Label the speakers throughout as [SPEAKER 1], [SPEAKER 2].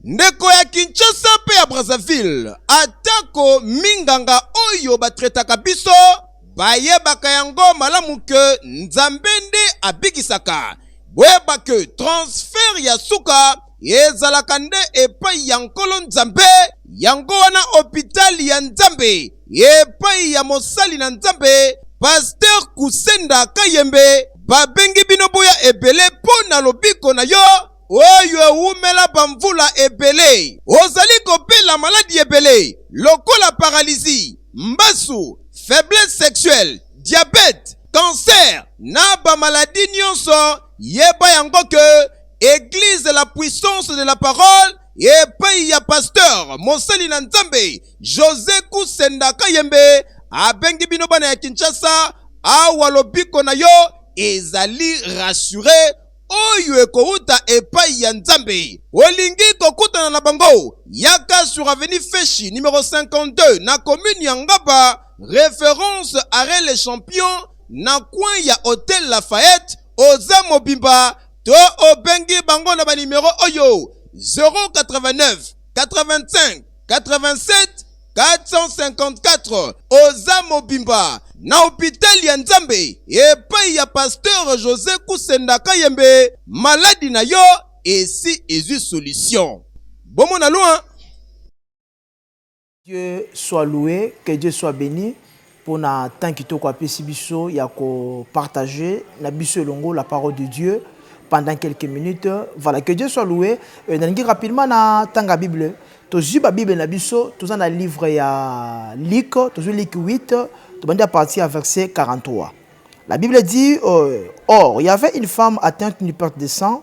[SPEAKER 1] Ndeko ya Kinshasa mpe ya Brazzaville, atako minganga oyo batretaka biso bayebaka yango malamu ke Nzambe nde abikisaka, boyeba ke transfert ya suka ezalaka nde epai ya Nkolo Nzambe. Yango wana hopital ya Nzambe epai ya mosali na Nzambe Pasteur Kusenda Kayembe babengi bino boya ebele mpo na lobiko na yo. oyo ewumela bamvula ebele. Ozali kobela maladi ebele lokola paralizi, mbasu, faiblesse sexuelle, diabete, cancer na bamaladi nyonso, yeba yango ke Eglise la puissance de la parole epai ya pasteur mosali na Nzambe Jose Kusenda Kayembe abengi bino bana ya Kinshasa awa lobiko na yo ezali rassure oyo ekowuta epai ya Nzambe. Olingi kokutana na bango? Yaka sur avenue Feshi numero 52 na commune ya Ngaba, reference arret le champion na coin ya hotel Lafayette. Oza mobimba to obengi bango na ba numero oyo 089 85 87 454 oza mobimba na hopital ya nzambe epai ya pasteur josé kusenda kayembe maladi na yo esi ezwi solution bomona loin
[SPEAKER 2] dieu soit loue que dieu soit beni pona temps kitoko apesi biso ya ko partage na biso elongo la parole de Dieu pendant quelques minutes voilà que Dieu soit loue nalingi rapidement na tanga bible tozwi ba bible na biso toza na livre ya Luc tozwi Luc 8 tobandi à partir ya verset 43 la bible dit euh, or il y avait une femme atteinte d'une perte de sang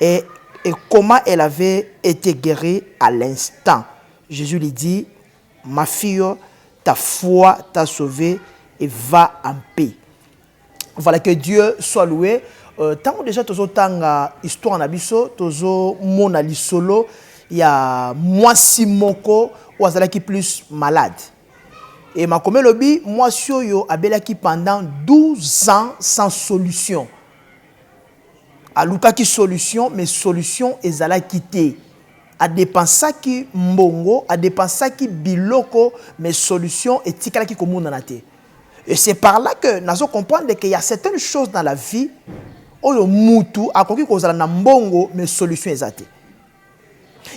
[SPEAKER 2] Et et comment elle avait ete guerie à l'instant Jesus lui dit ma fille ta foi t'a sauve et va en paix voilà que Dieu soit loue tango dejà tozo tanga histoire na biso tozo mona lisolo ya mwasi moko oyo azalaki plus malade et makomi elobi mwasi oyo abelaki pendant 12 ans sans solution. Alukaki solution mais solution ezalaki te. A depensaki mbongo, a depensaki biloko mais solution etikalaki komonana te. Et c'est par là que nazo comprendre qu'il ya certaines choses dans la vie oyo mutu akoki kozala na mbongo mais solution eza te.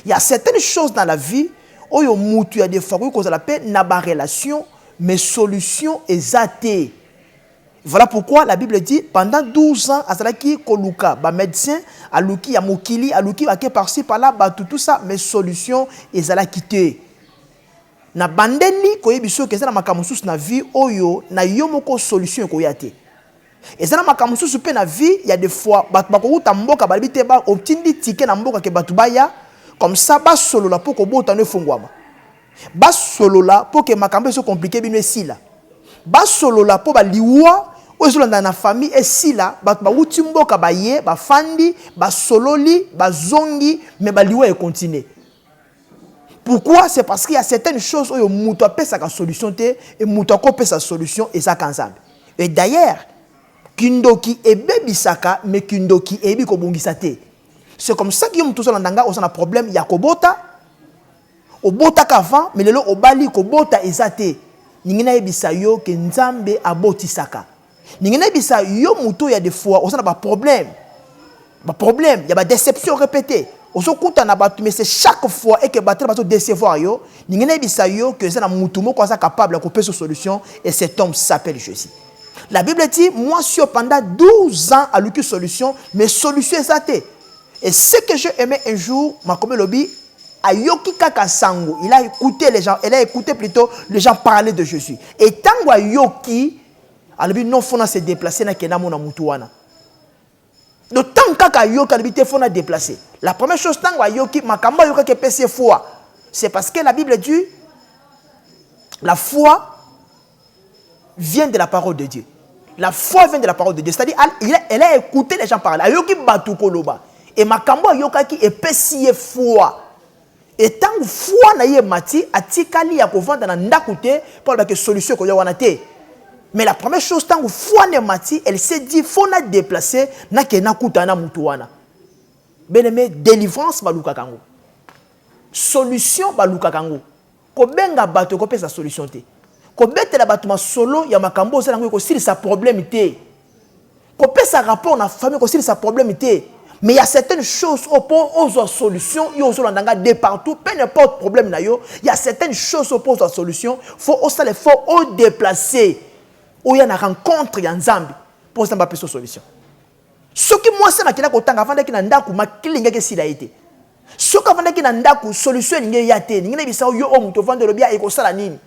[SPEAKER 2] Ya certaines choses dans la vie oyo mutu ya defo akoki kozala pe na ba relations mais solution eza te. Voilà pourquoi la bible dit pendant 12 ans azalaki koluka ba medecins aluki ya mokili aluki bake par ci par là batu tout ça mais solution ezalaki te na bandeli koyebi soki eza na makambo mosusu na vie oyo na yo moko solution ekoya te eza na makambo mosusu mpe na vie ya de fois bato bakowuta mboka balebi te otindi tike na mboka ke bato baya comme ça basolola mpo kobota no efongwama Basolola pour que makambo ezo compliquer bino esila. Basolola mpo ba liwa oyo ezolanda na famille esila. Bato bawuti mboka baye, bafandi, basololi, bazongi mais ba liwa e continuer. Pourquoi? C'est parce qu'il ya certaines choses oyo moto apesaka solution te et moto akopesa solution eza kaka Nzambe. Et d'ailleurs, kindoki ebebisaka mais kindoki eyebi kobongisa te. C'est comme ça que yo moto ozolanda nga oza na problème ya kobota, Obotaka avant mais lelo obali kobota eza te lingi nayebisa yo ke nzambe abotisaka lingi nayebisa yo moto ya de fois oza na ba problème ba problème ya ba deception repete ozo kuta na bato mais c'est chaque fois et que bato bazo decevoir yo lingi nayebisa yo ke eza na moto moko aza capable ya kopesa solution et cet homme s'appelle Jesus la bible dit mwasi yo pendant 12 ans aluki solution mais solution eza te Et ce que j'ai aimé un jour, Makombe Lobi, ayoki kaka sango, il a écouté les gens, elle a écouté plutôt les gens parler de Jésus. Et tango ayoki, alobi non fona se déplacer na kena mona mutu wana. Donc tango kaka ayoki alobi te fona déplacer. La première chose tango ayoki makambo ayoka ke pese foi. C'est parce que la Bible dit la foi vient de la parole de Dieu. La foi vient de la parole de Dieu. C'est-à-dire, elle a écouté les gens parler. Ayoki batu koloba. Et makambo ayokaki epesi ye foi. Et tant foi na ye mati atikali ya kovanda na ndaku te pour la solution ko ya wana te. Mais la première chose tant foi ne mati, elle s'est dit faut na déplacer na ke na kuta na mutu wana. Bien-aimé, délivrance baluka kango. Solution baluka kango. Kobenga bato ekopesa solution te. Kobetela bato masolo ya makambo oza nango ekosilisa problème te. Kopesa rapport na famille ekosilisa problème te. Mais il y a certaines choses au po ozo solution yo ozo landa nga de partout peu n'importe problème na yo il y a certaines choses au po ozo solution faut au sale faut au déplacer oya na rencontre ya Nzambe po Nzambe apesa solution soki mwasi na kenda kotanga afandaki na ndako makili ngeke sila ete soki avandaki na ndako solution elingi eya te elingi nayebisa yo oyo moto ovandi olobi ekosala nini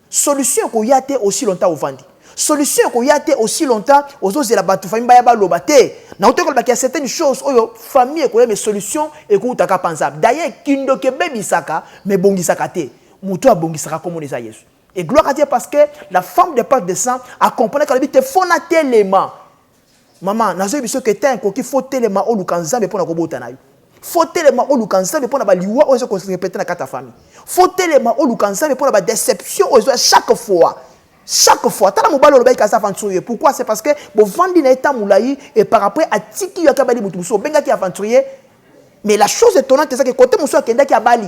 [SPEAKER 2] solution ekoya te aussi longtemps ovandi solution ekoya te aussi longtemps ozozela bato famille baya baloba te nauti kolobaki ya certaines choses oyo famille ekoya mais solution ekoutaka mpanza d'ailleurs kindoki ebebisaka mais ebongisaka te moto oyo abongisaka komona eza yesu et gloire à dieu parce que la femme de page de sang acompanaki alobi te fona telema Maman, nazo yebiso que temps ekoki faut telema oluka Nzambe pona kobota na yo. Faut telema oluka Nzambe pona ba liwa oyo ezo ko répéter na kati ya famille. Faut telema oluka Nzambe pona ba déception oyo ezo chaque fois. Chaque fois, tala mobali olobaki aza aventurier. Pourquoi? C'est parce que bovandi na ye temps mulayi et par après atiki yo akabali mutu mususu. Obengaki aventurier mais la chose étonnante eza que cote mususu akendaki abali.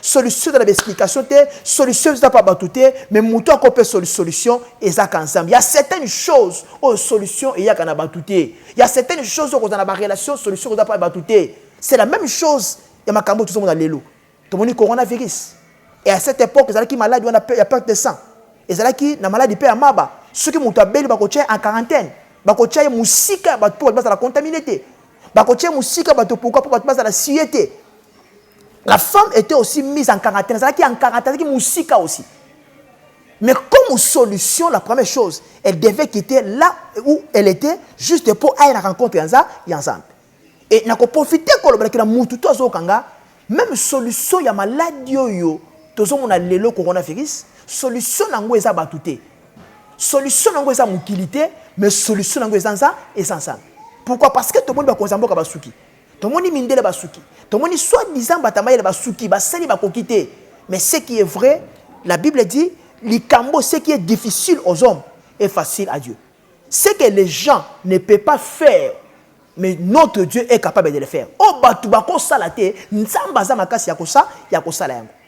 [SPEAKER 2] solution eza na baexplication te solution eza mpa bato te me moto ako mpe solution ezaka nzambe ya certaine chose oyo solution eyaka na bato te ya certaine chose oyo kozala na barelation solution koza mpa bato te c'est la même chose ya makambo oyo tozomona lelo tomoni coronavirus e à cette époque ezalaki maladi wana ya perte de sang ezalaki na maladi mpe ya maba soki moto abeli bakotya ye en quarantaine bakotya ye mosika ya bato mpo bato bazala contamine te bakotya ye mosika bato pourkui mpo bato bazala siye te La femme était aussi mise en quarantaine. Azalaki en quarantaine, azalaki musika aussi. Mais comme solution, la première chose, elle devait quitter là où elle était, juste pour aller à la rencontre Yanza, Yanzambe. Et nako profiter koloba na mutu to azokanga, même solution ya maladie oyo tozomona lelo coronavirus, solution nango eza batu te. Solution nango eza mokili te, mais solution nango eza nza, eza Nzambe. Pourquoi? Parce que tomoni bakonzi ya mboka basuki. Tomoni mindele basuki. Tomoni soit disant batamayele basuki basali bakoki te. Mais ce qui est vrai, la Bible dit likambo ce qui est difficile aux hommes est facile à Dieu. Ce que les gens ne peut pas faire mais notre Dieu est capable de le faire. Oh batu bako sala te, Nzambe aza makasi ya kosa ya kosala yango.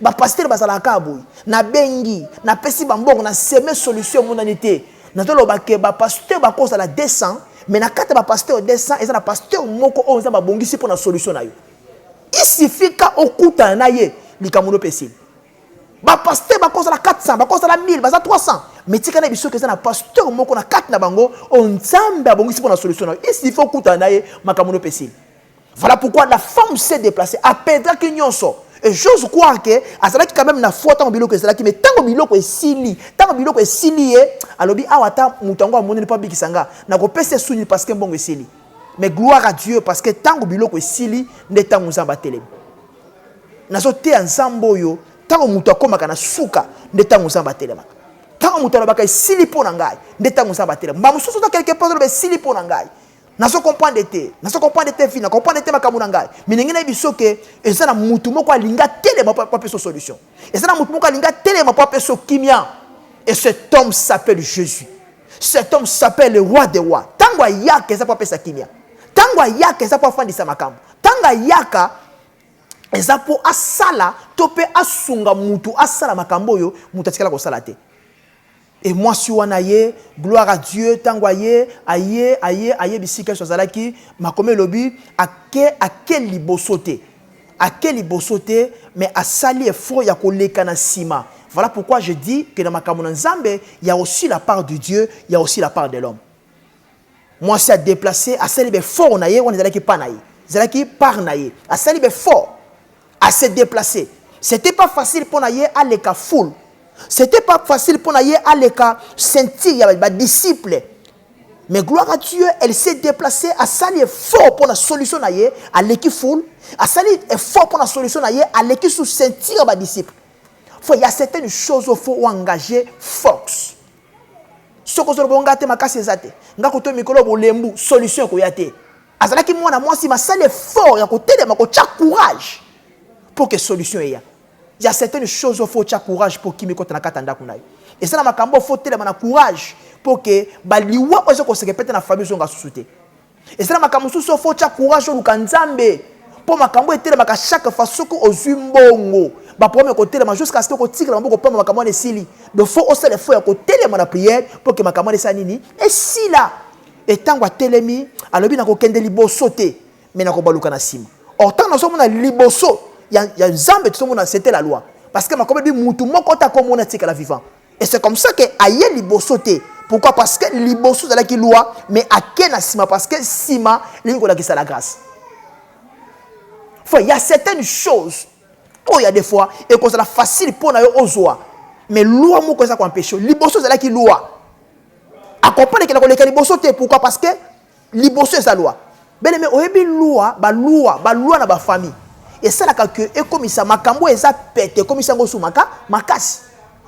[SPEAKER 2] bapastere bazalaka kaka boye nabengi napesi bambongo na seme solution emonani te nazoloba ke bapasteur bakozala 200 mais na kati ya bapasteur 200 eza na pasteur moko oyo nzambe abongisi mpo na solution na yo isifika okutana na ye likambo no mpe esili bapasteur bakozala 400 bakozala 1000 baza 300 mais tika na biso ke eza na pasteur moko na kati na bango oyo nzambe abongisi mpo na solution na yo isifika okutana na ye makambo no mpe esili Voilà pourquoi la femme s'est déplacée, a perdaki nyonso. Et j'ose croire que azalaki quand même na foi ntango biloko ezalaki mais ntango biloko esili ntango biloko esili ye alobi awa ata moto yango amoneli mpo abikisa nga nakopesa ye suni parce que mbongo esili mais gloire à dieu parce que ntango biloko esili nde ntango nzambe atelemi nazoteya nzambe oyo ntango moto akomaka na suka nde ntango nzambe atelemaka ntango moto alobaka esili mpo na ngai nde ntango nzambe atelema mbala mosusu ata quelque part oloba esili mpo na ngai nazo comprendre te nazo comprendre te fina comprendre te makambo na ngai minenge nayebi biso ke eza na mutu moko alingi atelema mpo apesa solution eza na mutu moko alingi atelema mpo apesa kimia et cet homme s'appelle jésus cet homme s'appelle le roi des rois ntango ayaka eza mpo apesa kimia ntango ayaka eza mpo afandisa makambo ntango ayaka eza mpo asala to mpe asunga mutu asala makambo oyo mutu atikala kosala te Et mwasi wana aye, gloire à Dieu, tango aye, aye, aye, aye bisika yesu azalaki, makomi elobi, ake, ake liboso te. Ake liboso te, mais asali effort ya koleka na sima. Voilà pourquoi je dis que na makambo na Nzambe, il y a aussi la part de Dieu, il y a aussi la part de l'homme. mwasi a deplace asali befort na ye wana ezalaki pa na ye ezalaki part na ye asali befort ase deplace c'était pas facile mpo na ye aleka foule c'était pas facile mpo na ye aleka ceinture ya badisciple mais gloire à dieu elle s'est déplacée asali effort mpo na solution na ye aleki foule asali effort mpo na solution na ye aleki sous ceinture ya badisciple fo ya certaines choses fo oengage force soki ozoloba nga te makasi eza te nga koto mikolo bolembu solution ekoya te azalaki mwana mwasi masala effort ya kotelema kotya courage mpo ke solution eya ya certaines choses ofo otya courage mpo kimi ekota na kati ya ndako na yo eza na makambo ofo otelema na courage mpo ke baliwa oyo eza koseke pete na famille ezonga susu te eza na makambo mosusu ofo tya courage oluka nzambe mpo makambo etelemaka chaque fois soki ozwi mbongo baproblème ekotelema jusqu'à ce que okotikela maboko pamba makambo wana esili donc fo osala efo ya kotelema na prière mpo ke makambo wana esala nini esila etango atelemi alobi nakokende liboso te me nakobaluka na nsima or ntango nazomona liboso ya nzambe tozomona sete la loi parce que makomi ebi motu moko te akomona tikala vivant Et c'est comme ça que aye liboso te. Pourquoi Parce que liboso ezalaki loi, mais ake na sima parce que sima lingi kolakisa la grâce. Enfin, il y a certaines choses oyo oh, ya des fois ekozala facile mpo na yo ozwa mais loi moko eza koempeshe liboso ezalaki loi akomprendre ekenda koleka liboso te pourquoi parce que liboso eza loi bele me oyebi loi ba loi ba loi na ba famille esalaka que ekomisa makambo eza pete ekomisa yango sumaka makasi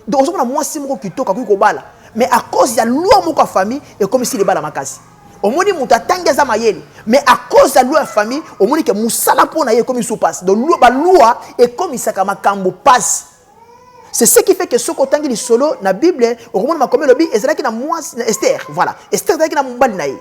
[SPEAKER 2] donc ozomona mwasi moko kitoko akoki kobala mais à cause ya loi moko ya famille ekomisi libala makasi omoni moto atangi aza mayele mais à cause ya loi ya famille omoni ke mosala mpo na ye ekomi su mpasi donc balua ekomisaka makambo mpasi C'est ce qui fait que soki otangi lisolo na Bible, okomona makomi lobi ezalaki na mwasi na Esther. Voilà, Esther ezalaki na mobali na ye.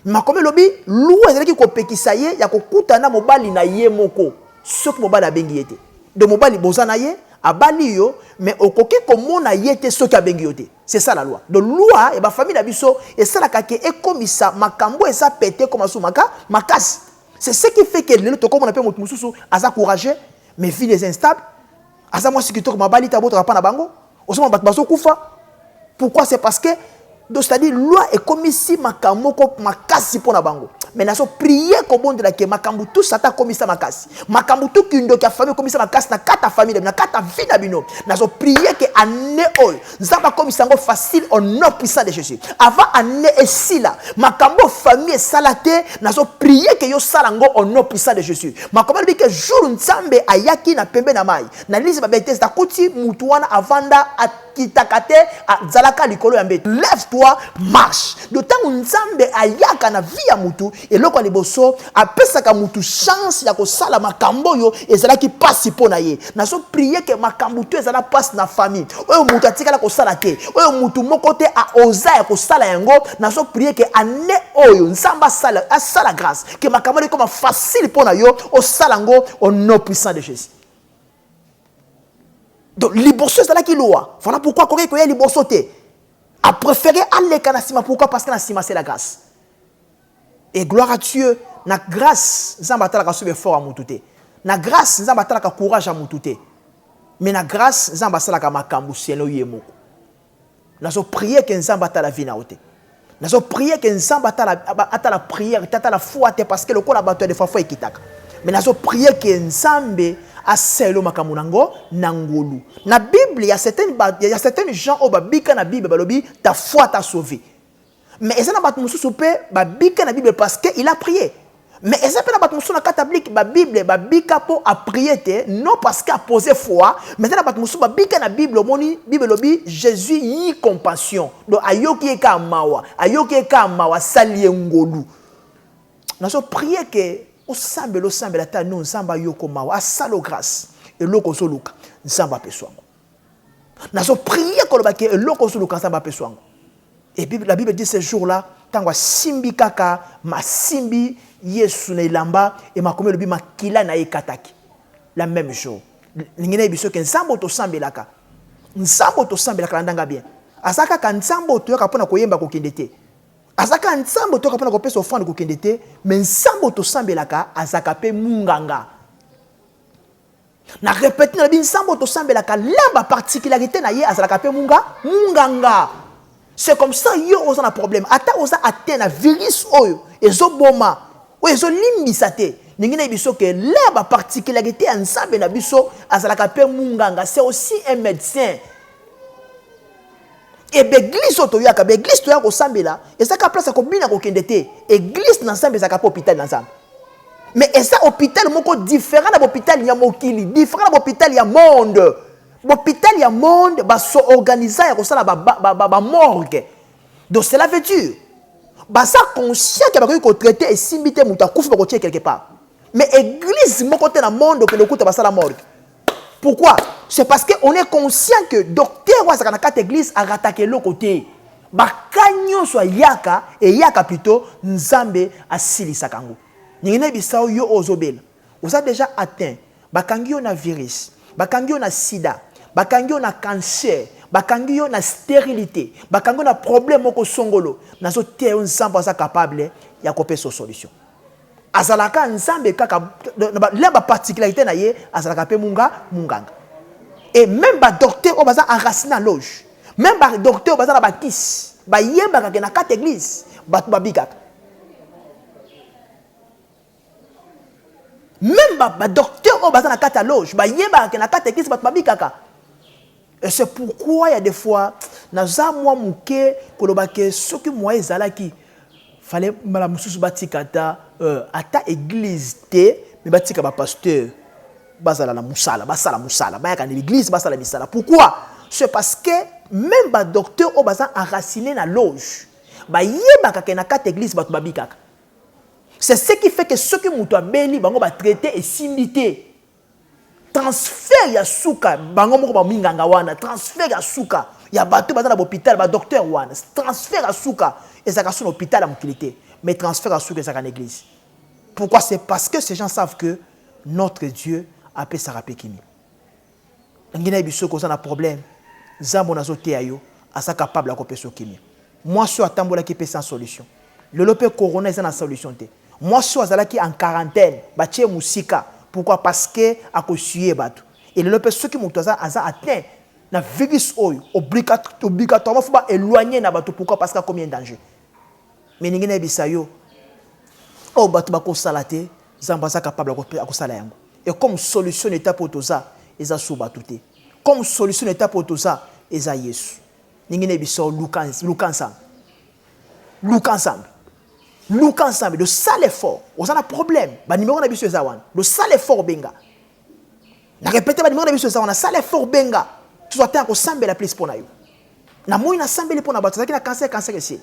[SPEAKER 2] Makomi lobi loi ezalaki kopekisa ye ya kokutana mobali na ye moko soki mobali abengi ye te. Donc mobali boza na ye abali yo mais okoki komona ye te soki abengi yo te. C'est ça la loi. Donc loi et ba famille na biso esalaka ke ekomisa makambo eza pete koma sumaka makasi. C'est ce qui fait que lelo tokomona pe moto mosusu aza courageux mais ville eza instable aza mwasi kitoko mabali te abotaka mpa na bango ozomona bato bazokufa pourquoi c'est parce que donc c'est-à-dire loi ekomisi makambo moko makasi mpo na bango mais nazo prie kobondela ke makambo tu sata akomisa makasi makambo tu kindoki ya famille ekomisa makasi na kati ya famille na bino na kati ya vie na bino nazo prie ke année oyo nzambe akomisa yango facile au nom puissant de jésus avant année esila makambo famille esala te nazo prie ke yosala yango au nom puissant de jésus makomi alobi ke jour nzambe ayaki na pembe na mai na lise babete nakuti mutu wana avanda akitaka te azalaka likolo ya mbeto lève toi marche do ntango nzambe ayaka na vie ya mutu Eloko ya liboso, apesaka mutu chance ya kosala makambo oyo ezalaki pasi mpo na ye. Nazo prier ke makambo to ezala pasi na famille, oyo mutu atikala kosala te, oyo mutu moko te a oza ya kosala yango, nazo prier ke annee oyo Nzambe asala asala grace ke makambo wana ekoma facile mpo na yo osala yango au nom puissant de Jesus. Donc liboso ezalaki loi, voilà pourquoi akokaki koya liboso te. A prefere aleka na sima pourquoi? Parce que na sima c'est la grace. et gloire à Dieu na grâce nzambe atalaka soki effort ya mutu te na grâce nzambe atalaka courage ya mutu te mais na grâce nzambe asalaka makambo selon ye moko nazo prier ke nzambe atala vie na yo te nazo prier ke nzambe atala, atala prière te atala foi te parce que lokola bato ya defa foi ekitaka mais nazo prier ke nzambe asaelo makambo na ngo na ngolu na bible ya certaines, ya certaines gens oyo babika na bible balobi ta foi ta sauve mais eza na bato mosusu mpe babika na bible parce que il a prié mais eza mpe na bato mosusu na kati ya blike babible babika mpo aprie te non parce que apose foi mais eza na bato mosusu babika na bible omoni bible elobi jésus yi compassion donc ayoki ye kaa mawa ayoki ye kaa mawa asali ye ngolu nazo prie ke osambela osambela ata no nzambe ayoko mawa asalo grâce eloko ozoluka nzambe apeswango nazo prier koloba ke eloko ozo luka nzambe apeso yango et puis la bible dit ce jour là ntango asimbi kaka masimbi yesu na elamba e makomi elobi makila na ye ekataki la même jour ndenge nayebi soki nzambe oyo tosambelaka nzambe oyo tosambelaka na ndanga bien aza kaka nzambe oyo toyaka mpo na koyemba kokende te aza kaka nzambe oyo toyaka mpo na kopesa ofrande kokende te me nzambe oyo tosambelaka azaka mpe munganga na repete na lobi nzambe tosambelaka lamba particularité na ye azalaka mpe munga munganga c'est comme ça yo oza na problème ata oza atteint na virus oyo ezoboma oyo ezolimbisa te ndenge na biso ke la baparticularité ya nzambe na biso azalaka mpe munganga c'est aussi un médecin e baeglise oyo toyaka baeglise toyaka kosambela ezaka place ya kobina kokende te eglise na nzambe ezalaka mpe hôpital na nzambe mais eza hôpital moko différent na bohôpital ya mokili différent na bohôpital ya monde bohôpital ya monde basoorganisa ya kosala bamorgue ba, ba, ba, ba donc cela veut dire baza conscient ke bakoki kotraite esimbi te moto akufi bakotye quelque part mais eglise moko te na monde okende okuta basala morgue Pourquoi C'est parce qu'on est conscient que docteur Wazaka na carte église a rattaqué le côté. Baka nyonso ayaka, eyaka plutôt, Nzambe asilisa kango. Ningi na bisao yo ozobela. Oza déjà atteint. Bakangi yo na virus. Bakangi yo na sida. Bakangi yo na cancer. Bakangi yo na stérilité. Bakangi yo na problème moko songolo. Nazo te yo Nzambe aza capable ya kopesa solution. azalaka nzambe kaka na ba particularité na ye azalaka pe munga munganga et même ba docteur oyo baza enracine na loge même ba docteur baza na bakisi bayebaka ke na kati église bato babikaka même ba docteur oyo baza na kati ya loge bayebaka ke na kati église bato babikaka Et c'est pourquoi il y a des fois, naza mwa muke koloba ke soki moyen ezalaki fallait mbala mosusu batika ata euh, ata église te mais batika ba pasteur bazala na musala basala musala bayaka na l'église basala misala pourquoi c'est parce que même ba docteur oyo baza enraciné na loge bayebaka ke na kati église bato babikaka c'est ce qui fait que soki moto abeli bango batraite esimbi te transfert ya suka bango moko ba minganga wana transfert ya suka ya bato baza na bopital ba docteur wana transfert ya suka ezalaka so na hopital ya mokili te mais transfert ya suka ezalaka na eglise pourquoi c'est parce que ces gens savent que notre dieu apesaka mpe kimi ngi nayebi soki oza na problème nzambo nazoteya yo aza capable ya kopesa okimi mwasi oyo atambolaki mpe sans solution lelo mpe corona eza na solution te Mwasi oyo azalaki en quarantaine batie ye musika pourquoi parce que ako suyer batu et lelo pe soki mutu aza aza atteint na virus oyo obligatoirement faut ba eloigner na batu pourquoi parce que akomi un danger mais elingi nayebisa yo oyo batu bakosala te zambo aza capable akosala yango et comme solution na etape oyo toza eza sur batu te comme solution na etape oyo toza eza yesu ndenge na biso luka luka nzambe luka nzambe luka nzambe dosala effort oza na problème banimero na biso eza wana dosala effort benga na repete banimero na biso eza wana sala effort benga tozwa ntango kosambela plus mpo na yo namoni nasambeli mpo na bato azalaki na kanser kanser esili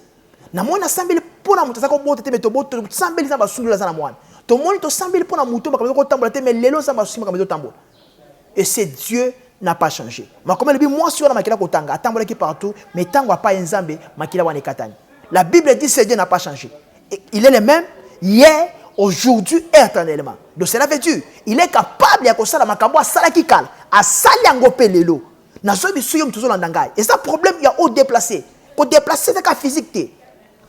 [SPEAKER 2] namoni nasambeli mpo na moto azalaki kobota te me tosambeli nzambe asundola aza na mwana tomoni tosambeli mpo na moto makambo ezokotambola te me lelo nzambe asungi makambo ezotambola Et c'est Dieu n'a pas changé. Makomeli bi mwasi wana makila kotanga atambolaki partout mais tango apaye Nzambe makila wana ekatani. La Bible dit c'est Dieu n'a pas changé. Et il est le même hier, aujourd'hui et éternellement. Donc cela veut dire il est capable ya kosala makambo asalaki kala, asali yango mpe lelo. Nazo biso yo tozolanda ngai. Eza problème ya haut déplacé. Ko déplacer eza ka physique te.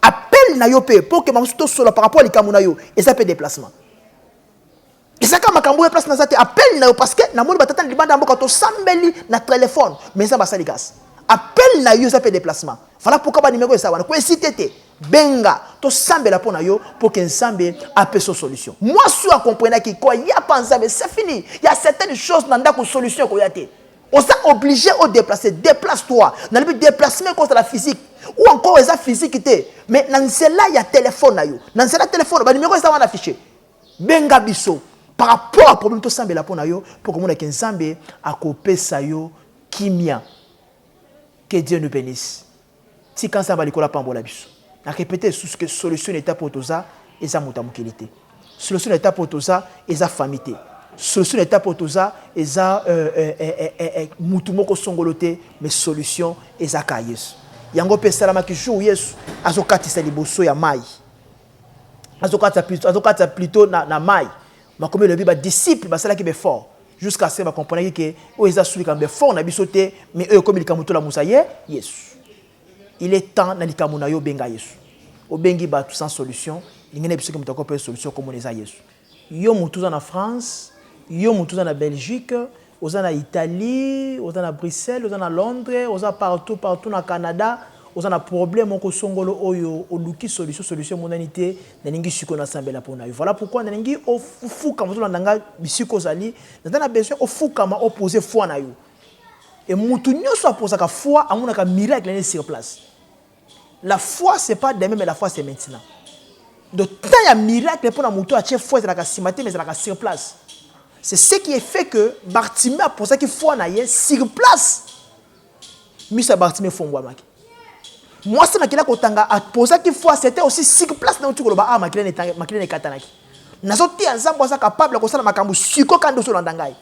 [SPEAKER 2] Appel na yo mpe mpo okema mosusu tosola par rapport ya likambo na yo eza mpe déplacement. eza kaka makambo oyo place naza te apeli na yo parce que namoni batata na libanda ya mboka tosambeli na telefone mais eza basali kasi apeli na yo eza mpe déplacement vala mpoka banimeko eza wana koesite te benga tosambela mpo na yo mpo ke nzambe apesa yo solution mwasi oyo akomprenaki koya mpa nzambe se fini ya certaines choses na ndako solution ekoya te oza obligé odeplace déplace toi nalobi déplacement ekozala physique ou encore eza physique te mais na nzela ya telefone na yo na nzela ya telefone banimeko eza wana affiche Benga biso par rapport à problème tosambela mpo na yo mpo okomona ke Nzambe akopesa yo kimia. Que Dieu nous benisse. Tika Nzambe ya likolo apambola biso. Na repete lisusu ke solution na etape oyo toza eza moto ya mokili te. Solution na etape oyo toza eza famille te. Solution na etape oyo toza eza euh, euh, euh, euh, euh, mutu moko songolo te, mais solution eza ka Yesu. Yango mpe esalamaki jour Yesu azokatisa liboso ya mayi. azokatisa plutôt azokatisa plutôt na, na mai makomi elobi badisiple basalaki befort jusqu'à ce bacomprenaki ke oyo eza su likambo befort na biso te mais oyo ekomi likambo tolamusa ye yesu il est temps na likambo na yo obenga yesu obengi bato sans solution lingene biso ke moto akopeyo solution komona eza yesu Yo mutu oza na France, yo mutu oza na Belgique, oza na Italie, oza na Bruxelles, oza na Londres, oza partout partout na Canada, oza na problème moko songolo oyo oluki solution, solution emonani te, nalingi sikoyo nasambela pona yo. Voilà pourquoi nalingi ofukama ozolanda nga bisika ozali, naza na besoin ofukama o poser foi na yo. Et mutu nionso a posaka foi amonaka miracle ne sur place. La foi c'est pas demain mais la foi c'est maintenant donc temps ya miracle mpo na moto atie foi ezalaka nsima te mais ezalaka sur place c'est ce qui est fait que bartime aposaki foi na ye sur place miso ya bartime efongwamaki mwasi makila kotanga aposaki foi c'était aussi sur place na oti koloba awa makila na ekatanaki nazoteya nzambe aza capable ya kosala makambo siko kandi ozolanda ngai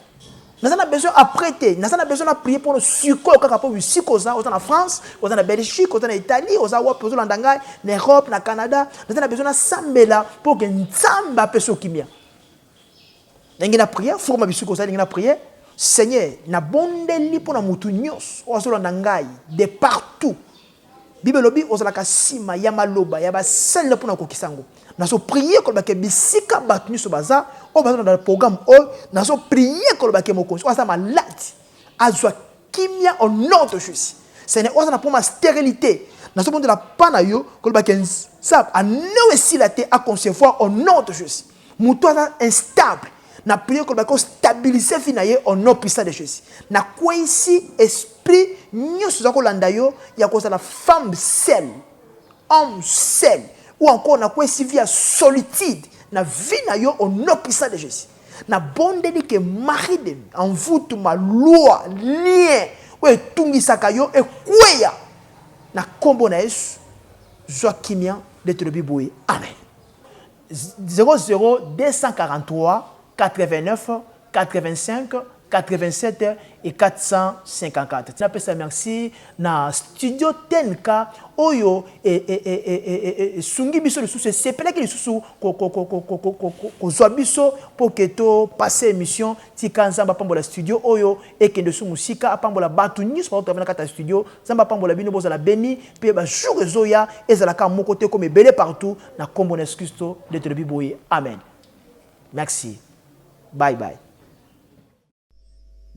[SPEAKER 2] naza na besoin après te naza na besoin na prier mpo sikoyo kaka mpo bisika oza oza na france oza na belgique oza na italie oza wapi ozolanda ngai na europe na canada naza na besoin nasambela mpo ke nzambe apesa okimia ndenge na prier forma bisika oza ndenge na prier seigneur nabondeli mpo na motu nyonso oyo azolanda ngai de partout Bible elobi ozalaka sima ya maloba ya basalela mpo na kokisa yango. Nazo prier koloba ke bisika bato nyonso baza oyo baza na programme oyo, nazo prier koloba ke mokonzi oyo aza malade azwa kimia au nom de Jésus. Seigneur, oyo aza na problème ya sterilité, nazo bondela pa na yo koloba ke nzambe anewe esila te a concevoir au nom de Jésus. moto aza instable na priye koloba ko stabilise fi na ye au nom puissant de jésus na kweisi esprit nyonso oza kolanda yo ya kozala femme sel homme sel ou encore na kweisi vie ya solitude na vie na yo au nom puissant de jésus na bondeli ke mari de en vous tout ma loi lien oyo etungisaka yo ekweya na nkombo na yesu zwa kimia nde tolobi boye amen 0024989587 tina pesa merci na studio TNK oyo esungi biso lisusu esepelaki lisusu kozua biso pour que to passer emission tika nzambe apambola studio oyo ekende su musika apambola batu nionso baoyo travaille na kati ya studio Nzambe apambola bino bozala beni pe ba jour ezoya ezala kaka moko te ekoma ebele partout na kombo na yesu klisto nde tolobi boye amen merci bye bye.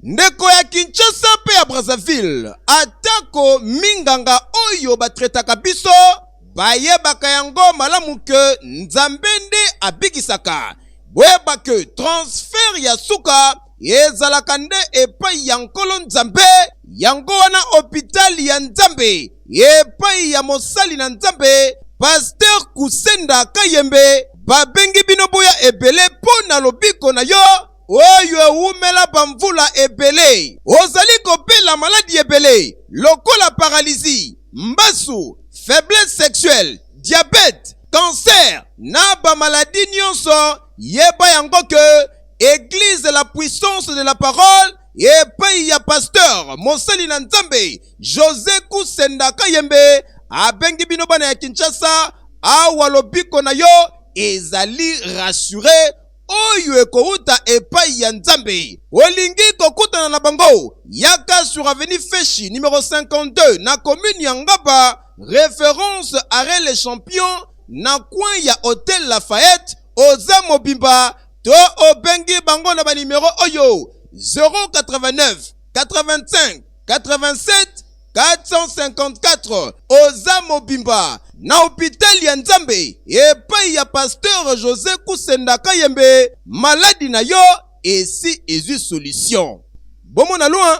[SPEAKER 1] Ndeko ya Kinshasa mpe ya Brazzaville, atako minganga oyo batretaka biso bayebaka yango malamu ke Nzambe nde abikisaka, boyeba ke transfert ya suka ezalaka nde epai ya Nkolo Nzambe. Yango wana hopital ya Nzambe epai ya mosali na Nzambe Pasteur Kusenda Kayembe babengi bino boya ebele mpo na lobiko na yo oyo ewumela bamvula ebele. Ozali kobela maladi ebele lokola paralizi, mbasu, faiblesse sexuelle, diabete, kanser na bamaladi nyonso, yeba yango ke Eglise la puissance de la parole epayi ya pasteur mosali na Nzambe Jose Kusenda Kayembe abengi bino bana ya Kinshasa awa lobiko na yo ezali rassure oyo ekowuta epayi ya Nzambe. Olingi kokutana na bango? Yaka sur avenue Feshi numero 52 na commune ya Ngaba, reference arret le champion na coin ya hotel Lafayette, oza mobimba to obengi bango na banimero oyo 089 85 87 454 oza mobimba na hopitali ya nzambe epai ya pasteur josé kusenda kayembe maladi na yo esi ezwi solution bomona loin